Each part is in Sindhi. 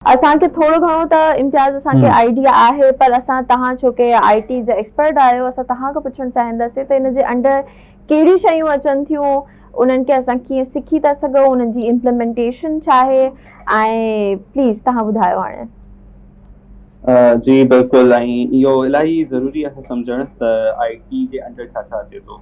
اسان کي ٿورو گهڻو ته امتياز اسان کي آئيڊيا آهي پر اسان تهان ڇو ڪي آئي ٽي جا ايڪسپرٽ آهيو اسان تهان کان پڇڻ چاهينداسين ته ان جي انڊر ڪهڙيون شيون اچن ٿيون انهن کي اسان ڪيئن سکي ٿا سگهون انهن جي امپلمينٽيشن ڇا آهي ۽ پليز تهان ٻڌايو هاڻي. جي بلڪل ۽ اهو الاهي ضروري آهي سمجهڻ ته آئي ٽي جي انڊر ڇا ڇا اچي ٿو.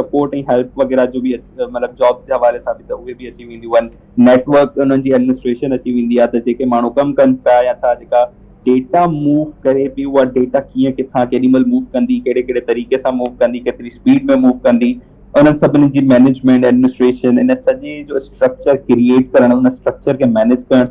سپورٽ ۽ هيلپ وغيره جو به مطلب جابس جي حوالي سان به ته اهي به اچي وينديون آهن نيٽ ورڪ انهن جي ايڊمنسٽريشن اچي ويندي آهي ته جيڪي ماڻهو ڪم ڪن پيا يا ڇا جيڪا ڊيٽا موو ڪري پي اها ڊيٽا ڪيئن ڪٿان ڪيڏي مهل موو ڪندي ڪهڙي ڪهڙي طريقي سان موو ڪندي ڪيتري اسپيڊ ۾ موو ڪندي انهن سڀني جي مينيجمينٽ ايڊمنسٽريشن ان سڄي جو اسٽرڪچر ڪريئيٽ ڪرڻ ان اسٽرڪچر کي مينيج ڪرڻ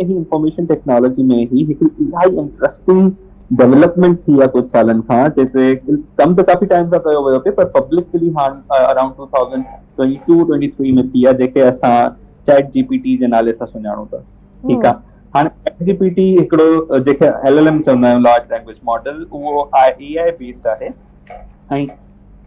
هي انفارميشن ٽيڪنالاجي ۾ هي هڪ انتهائي انٽرسٽنگ ڊولپمينٽ ٿي آ ڪجھ سالن کان جيڪي ڪم ته ڪافي ٽائم کان ڪيو ويو پئي پر پبلڪ ڪلي هاڻ around two thousand twenty two twenty three ۾ ٿي آ جيڪي اسان چيٽ جي پي ٽي جي نالي سان سڃاڻو ٿا ٺيڪ آ هاڻي چيٽ جي پي ٽي هڪڙو جيڪي ايل ايل ايم چوندا آهيون لارج لينگويج ماڊل اهو آء اي آء بيسڊ آهي ۽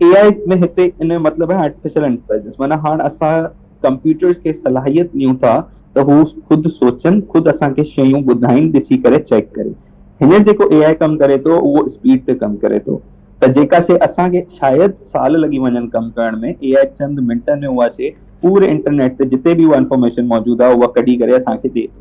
اي آء ۾ هتي ان جو مطلب آهي آرٽيفيشل انٽيليجنس معنيٰ هاڻ اسان ڪمپيوٽرز کي صلاحيت ڏيون ٿا ته هو خود سوچن خود اسان کي شيون ٻڌائين ڏسي ڪري چيڪ ڪري هينئر جيڪو اي آء ڪم ڪري ٿو اهو اسپيڊ تي ڪم ڪري ٿو ته جيڪا شي اسان کي شايد سال لڳي وڃن ڪم ڪرڻ ۾ اي آء چند منٽن ۾ اها شي پوري انٽرنيٽ تي جتي به اها انفارميشن موجود آهي اها ڪڍي ڪري اسان کي ڏئي ٿو.